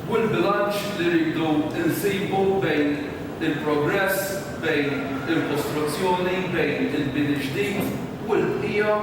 u l-bilanċ li rridu nsibu bejn il-progress, bejn il-kostruzzjoni, bejn il-bini ġdid u l-bqija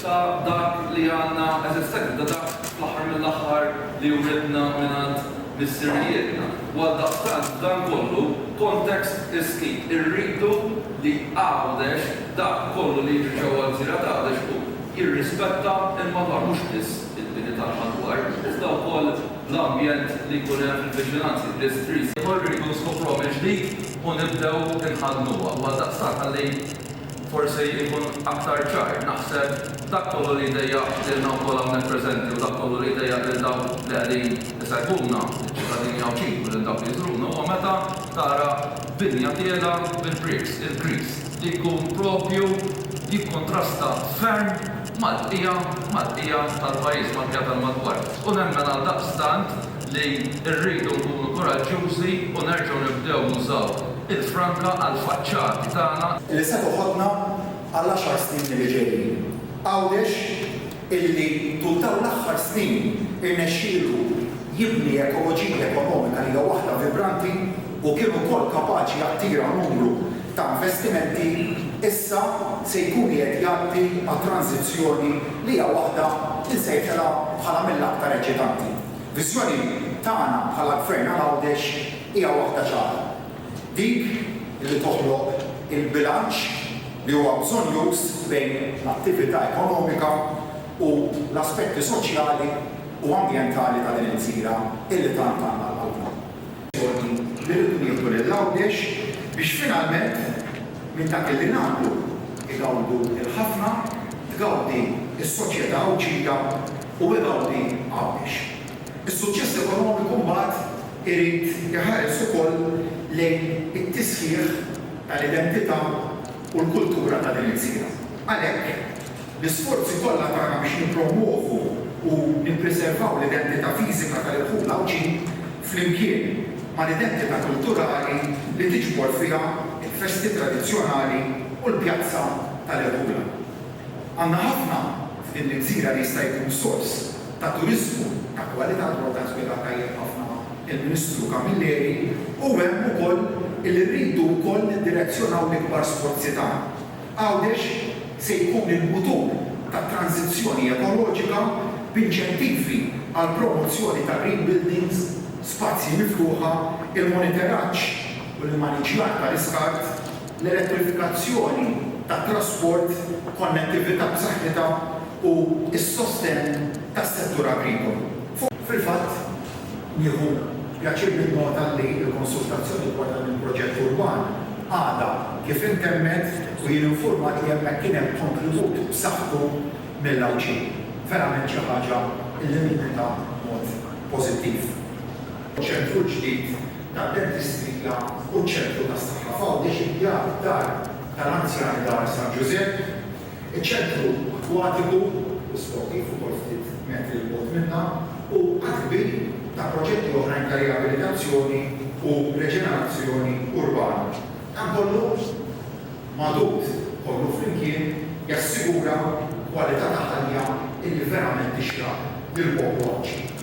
ta' dak li għandna eżistenti, ta' dak fl-aħħar mill-aħħar li uritna mingħand missirijietna. U għaldaqstant f'dan kollu, context is key, irridu li Għawdex, dak kollu li jiġri ġewwa l-gżira t'Għawdex hu jirrispetta l-madwar mhux biss. il-bini tal-madwar, iżda wkoll l-ambjent li jkun hemm fil-viċinanzi, bl-istrież. Ukoll irridu nskopruha mill-ġdid u nibdew inħaddnuha. U għaldaqstant ħalli forsi nkun aktar ċar, naħseb dak kollu li jdejjaq lilna wkoll hawnhekk preżenti u dak kollu li jdejjaq lil dawk li qegħdin isegwuna, liċ-ċittadini Għawdxin u lil dawk li jżuruna, huwa meta tara binja tiegħla bil-bricks, il-grease, li jkun proprju jikkuntrasta ferm Maltija, Maltija tal-pajjiż, Maltija tal-madwar. U nemmen għaldaqstant li rridu nkunu kuraġġjużi u nerġgħu nibdew nużaw il-franka għall-faċċati tagħna. Li se toħodna għall-għaxar snin li ġejjin. Għawdex illi tul dawn l-aħħar snin irnexxielu jibni ekoloġija ekonomika li hija waħda vibranti u kien ukoll kapaċi jattira numru ta' investimenti issa se jkun qiegħed jgħaddi għal tranżizzjoni li hija waħda li nsejħilha bħala mill-aktar eċitanti. Viżjoni tagħna bħala Gvern għal Għawdex hija waħda ċara, dik li toħloq il-bilanċ li huwa bżonjuż bejn l-attività ekonomika u l-aspetti soċjali u ambjentali ta' din il-gżira illi tant għandna għal qalbna. Sfortun li rridu nieħdu lil Għawdex biex finalment minn dak illi nagħmlu jgawdu l-ħafna, tgawdi s-soċjetà Għawdxija u igawdi Għawdex. Is-suċċess ekonomiku mbagħad irid iħares ukoll lejn it-tisħiħ tal-identità u l-kultura ta' din il-gżira. Għalhekk. L-isforzi kollha tagħna biex nippromwovu u nippriservaw l-identità fiżika tal-irħul Għawdxin flimkien mal-identità kulturali li tiġbor fiha l-festi tradizzjonali u l-pjazza tal-irħula. Għandna ħafna f'din l-gżira li jista' jkun sors ta' turiżmu ta' kwalità dwar dan spjega tajjeb ħafna il-Ministru Camilleri u hemm ukoll li rridu wkoll niddirezzjonaw l-ikbar sforzi tagħna. Għawdex se jkun il-mutur tat-tranżizzjoni ekoloġika b'inċentivi għall-promozzjoni ta' green buildings, spazji miftuħa, il-monitoraġġ u l-immaniġġjar tal-iskart, l-elettrifikazzjoni tat-trasport, konnettività b'saħħitha u s-sostenn tas-settur agrikolu. Fil-fatt, Nieħu pjaċir ninnota li l-konsultazzjoni dwar dan il-proġett urban għadha kif intemmet u jien infurmat li hemmhekk kien hemm kontribut b'saħħtu mill-Għawdxin. Verament xi ħaġa li ninnota b'mod pożittiv. Ċentru l-ġdid tad-Dentistrija u ċ-Ċentru tas-Saħħa f'Għawdex imbjat f'Dar tal-Anzjani Dar San Ġużepp. Iċ-ċentru akwatiku u sportiv ukoll ftit metri 'l bogħod minnha hu għadd kbir ta' proġetti oħrajn ta' riabilitazzjoni u reġenerazzjoni urbana. Dan kollu magħdud kollu flimkien jassigura kwalità ta' ħajja illi verament tixraq lill-poplu Għawdxi.